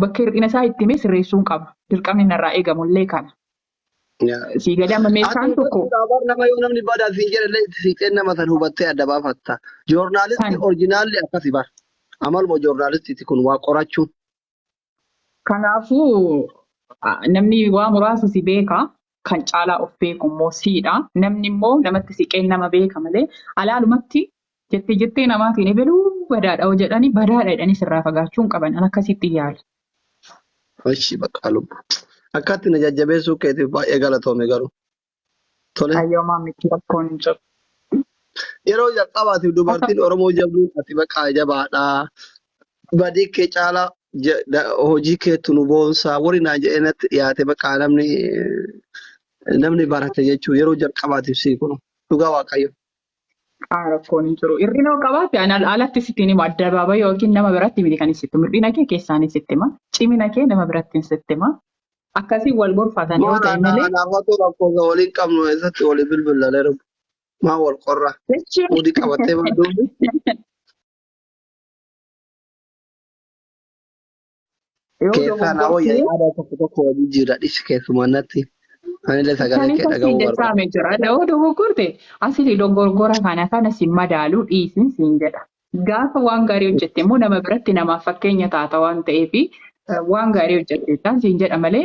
bakka hir'ina isaa itti himee sirreessuun qaba. Dirqamni narraa eegamu illee kana. Yaa. Sii galee amma mee Ati isaan tokko hubachuudha bar nama yoo namni badaa siin jedhe illee itti siiqeen nama san hubattee adda baafatta. kan Joornaalistii orjinaalli akkasi bar. Amaluma joornaalistiiti kun waa qorachuun. kanaafuu ah, namni waa muraasa si beeka kan caalaa of beeku immoo siidha. Namni immoo namatti siqeen nama beeka malee alaalumatti jettee jettee namaatiin ebeluu badaadha yoo jedhani badaadha jedhanii sirraa fagaachuu hin qaban. An akkasitti yaala. Hoshi baqaa lubbu. Akkaatti na jajjabeessuu keetiif baay'ee galatoomi garuu. Tole. Ayyoomaa miti rakkoon hin jiru. Yeroo jalqabaatiif dubartiin Oromoo jabduun ati baqaa jabaadha. badii kee caalaa je- da- hojii keetu nu boonsaa warri naa jedhee natti dhiyaate baqaa namni namni barate jechuun yeroo jalqabaatiif sii kun dhugaa waaqayyo. Haa rakkoon hin jiru. Hir'ina yoo qabaate ani al- alatti sitti hin himu. Addabaaba yookiin nama biratti miti kan sitti himu. Hir'ina kee keessaanis sitti hima. Cimina kee nama birattiin sitti hima. Akkasiin wal gorfatan yoo Maal ta'e anaa malee anaafatu lakkoofsa waliin qabnu eessatti walii bilbilalee dhufu. Maa wal qorra. jechuun Mudi qabattee maa duubi. Yoo Keessaa naa wayya dogoggortee yaada tokko tokko wajjin jira dhisi keessumaa natti. Anillee sagalee Isaanii kee kun siin dhaga'uu barbaada. jechaame jira. Yoo dogoggorte asili dogoggora kana kana siin madaalu dhiisin siin jedha. Gaafa waan gaarii hojjette immoo nama biratti namaaf fakkeenya taata waan ta'eef waan gaarii hojjette isaan siin jedha malee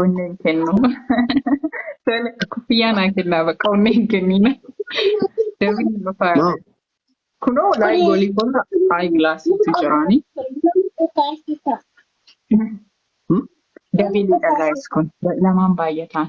Onnee hin kennu. Tole kuffiyyaa naa kennaa bakka onnee hin kenniina. Dabiin hin dhufaa. Maa Kunoo walaay goolii koota ayi gilaasiitu jiraani. hmm? Dabiin hin dhagaa'es kun lamaan baay'ataan.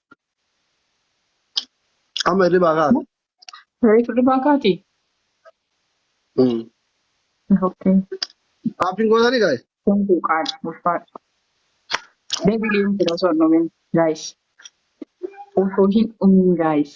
Amma hirribaa kaate. Reefu hirribaa kaati. Mm. Okay. Appiin gootanii gaa'e. Kun buuqaadha. Ulfaadha. Deebilee hin jira osoo hin dhumin. Guys. Osoo hin dhumin guys.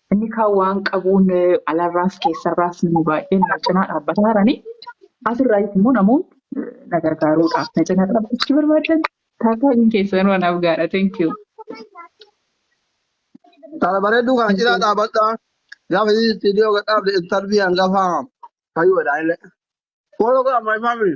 Inni kaan waan qabuun alarraas keessarraas nama baay'een na cinaa dhaabbataa jirani. Asirraayis immoo namoonni na gargaaruudhaaf na cinaa dhaabbachuu barbaadan taataaleen keessanuu anaaf gaadha. Thank you. Kana bareedduu kana cinaa dhaabadhaa. Gaafa viidiyoo gad dhaabde intarvii hangafa fayyuudha illee. Follow got my family.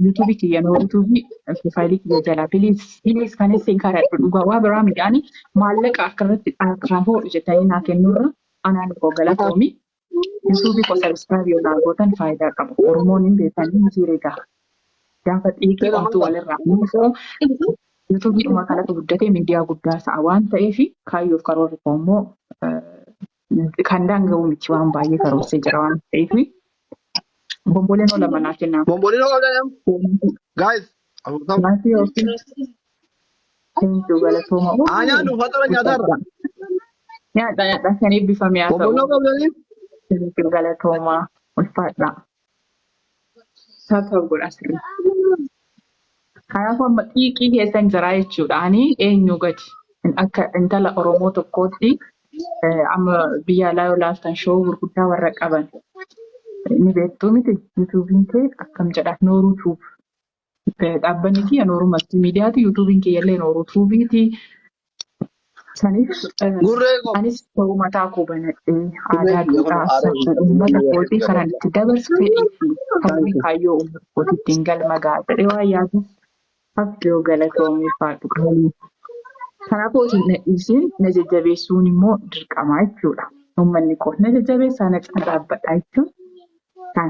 yuutuubii kiyya noo yuutuubii profaayilii kiyya jalaa piliis piliis kan isin kadhadhu dhugaa waa biraa midhaani maallaqa akka irratti harkaa hoodhu jettanii naa kennurra anaan koo galatoomi yuutuubii koo sabiskiraayib yoo naa gootan faayidaa qaba oromoon hin beekanii miti egaa gaafa xiiqii Seera omtuu maal walirraa muufoo yuutuubii dhuma kanatu guddatee miidiyaa guddaa ta'a waan ta'eef kaayyoof karoorri koo immoo kan daanga'u miti waan baay'ee karoorsee jira waan ta'eef bomboleen oola manaa kennaa. Bombolino Olanam. Guys. Afurtam. Maatii yookiin seentuu galatooma. Haa nyaannu faxara nyaataarra. Nyaadha nyaadha kan eebbifame haa ta'u. Bombolino Olanam. Seentuu galatooma ulfaadha. Taa ta'u godha sirri. Kanaafuu amma xiiqii keessan jiraa jechuudha. Ani eenyu gadi akka intala Oromoo tokkootti amma biyya alaa yoo laaltan shoo gurguddaa warra qaban ni beektuu miti yuutuubiin kee akkam jedha nooruu tuub Dhaabbanni kiyya Nooruu Maltiimiidiyaati. Yuutuubiin kiyyallee Nooruu Tuubiiti. Saniif Gurree koo. anis ta'uu mataa koo banadhee aadaa, duudhaa, safuu uummata kootii kanan itti dabarsu fedhii fi hawwii kaayyoo uummata kootii ittiin galma ga'a jedhee waan yaaduuf Abdoo galatoomi ulfaadhu qaalii. Kanaafuu osoo hin dhiisiin na jajjabeessuun immoo dirqama jechuudha. Uummanni koo na jajjabeessaa na cina dhaabbadhaa jechuun kan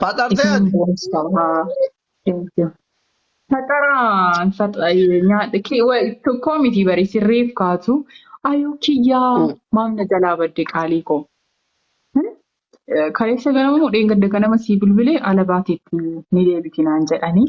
Faxartee Isin ati. boonsaa. Thank you. Faxaraa faxa- eh, nyaadha kee wa- tokkoo miti bari sirreef kaatu ayuu kiyyaa Mm. maam na jalaa badde qaalii koo Hmm? Eh, kaleessa ganama moo dheengadda ganama sii bilbilee ala baateetti ni deebiti naan jedhanii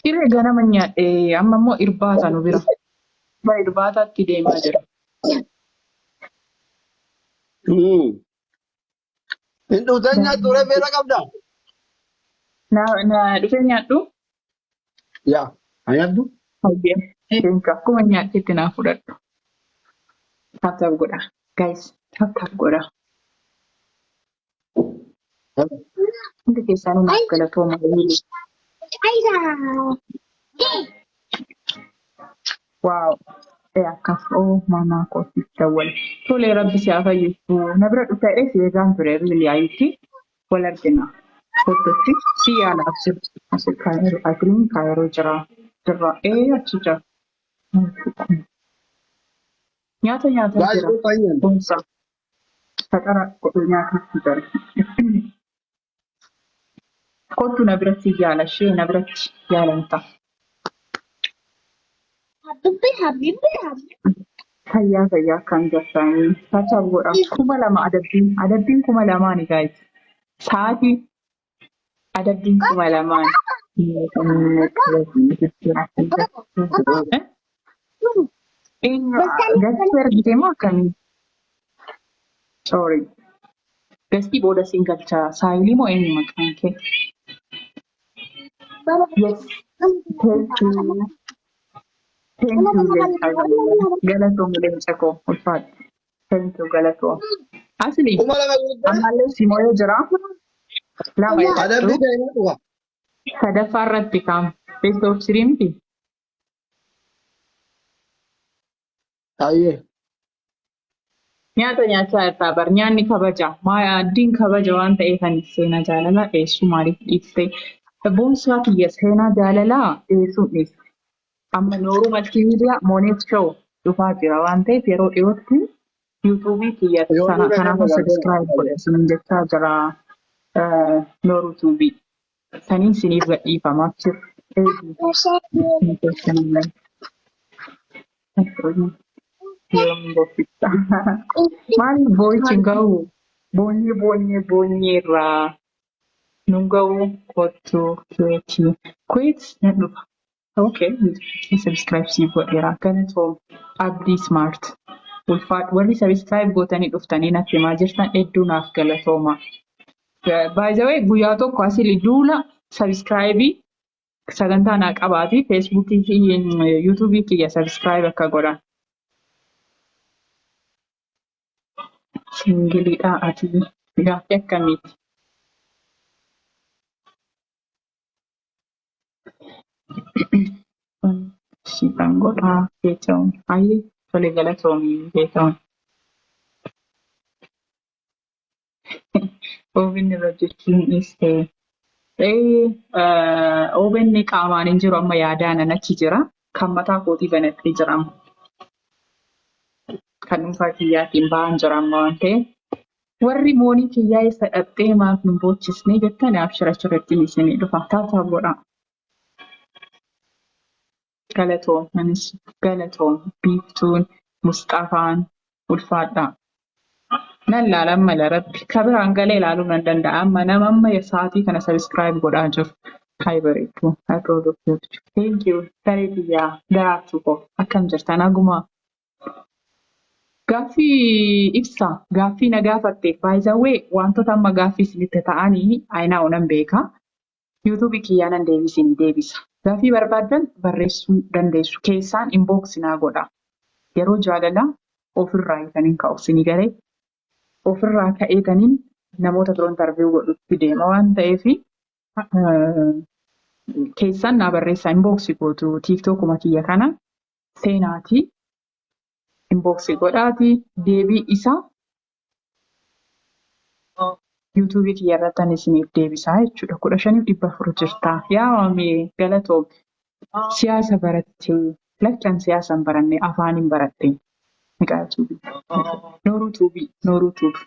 Ciree ganama nyaadhe amma immoo irbaata nu bira. Bara irbaataatti deemaa jira. Hmm. Hin dhuftan nyaattu ree beela qabda. Na na dhufee nyaadhu. Yaa. Haa nyaaddu. Hayyee. Teenka akkuma nyaadhetti naa fudhadhu. Taaptaap godha. Guys taaptaap godha. Hundi keessanuu naaf galatooma. Waaw. Ee akka oo mamaa kootiif dawwale. Tolee rabbi si haa fayyisu. Na bira dhufta jedhee si eegaan ture riilii ayitti wal argina. Fottootti si yaala absir. Asir kaayiroo agiriin kaayiroo jira. Jirra. Ee achi jira. Nyaata nyaatan jira. Baay'ee fayyan. Boonsa. Faxara godhee nyaatuuf fidani. Kottu na biratti yaala ishee na biratti yaalamta. Habibi, habibi, habibi. Fayyaa fayyaa akkaan jirtaanii. Taataaf godha. Kuma lama adabbiin. Adabbiin kuma lamaani gaayis. Sa'aatii Adabbiin kuma lamaan. Gastii argite moo akkamii? Sorry. Gastii booda siin galchaa. Saayilii moo eenyu maqaan kee? Yes. Thank you. Thank you. Galatoomi leenca koo ulfaadhu. Thank you galatoom. Asli kuma lama guuttee ammallee si mo'ee jira. Lama adabbii eegadhu. ta'e na dhufa. Sadaffaa irratti kaam best of three miti. Ayyee. Nyaata nyaachaa jirtaa bar nyaanni kabaja maaddiin kabaja waan ta'eef ani seenaa jaalalaa dhiyeessuu maaliif dhiiste? Boonsaa kiyya seenaa jaalalaa dhiyeessuun dhiiste. Amma Nooruu Maltiimiidiyaa Mooneet Show dhufaa jira waan ta'eef yeroo dhiyootti yuutuubii kiyya Yoo sana dhuga kanaafuu nama bartee sabiskiraayib godha waaqayyo. isiniin jechaa jira eh, Nooruu Tuubii. Saniin isiniif gadhiifama achir eeguu. Ni keessanillee. Yoom bobbifta? Maaliif boo'ichi hin gahu? Boonyee boonyee boonyee irraa. nun ga'uu kottu keeti kuweet nan dhufa ok kee subscribe siif godheera galatoom abdii smart ulfaadhu warri subscribe gootanii dhuftanii natti himaa jirtan hedduu naaf galatooma by the way guyyaa tokko asili duula subscribe sagantaa naa qabaati facebook youtube kiyya subscribe akka godhan Singilidhaa atii gaaffii akkamiiti? Siifan godhaa Geetahuun. Hayyee tole galatoomi Geetahuun. Oven irra hojjechuun dhiiste. Oven qaamaan hin jiru amma yaadaan an achi jira. Kan mataa kootii banadhee jira amma. Kan dhuunfaa kiyyaatiin ba'aan jira amma waan ta'eef. Warri moonii kiyyaa isa dhaqxee maaf hin boochisne jettan abshira achirratti isinii dhufa. Taataaf godhaa. Galatoom anis galatoom biiftuun musxafaan ulfaadhaa. Nan laala amma la rabbi ka biraan galee laaluu nan danda'a amma nama amma sa'aatii kana subscribe godhaa jiru hay bareedduu I proud of you too. Thank you saree tiyyaa daraartuu koo akkam jirta nagumaa Gaaffii ibsa gaaffii na gaafatte by the way wantoota amma gaaffii isinitti ta'anii ayinaa'u nan beeka Youtube kiyyaa nan deebi isinii deebisa. Gaafii barbaaddan barreessuu dandeessu keessaan inbox naa godha yeroo jaalalaa ofirraayi kanin ka'u isinii galee ofirraa ka'eetanin namoota biroo interview godhutti deema waan ta'eef keessaan naa barreessaa inbox gootu tiktokuma kiyya kana seenaati inbox godhaati deebii isaa yuutuubii kiyya irratti ani isiniif deebisaa jechuudha. kudha shaniif dhibba afur jirtaa. Yaa maamee galatoom siyaasa barattee lakkan siyaasa hin baranne afaan hin baradhe. Miqaa tuubii. Nooruu tuubii. Nooruu tuubii.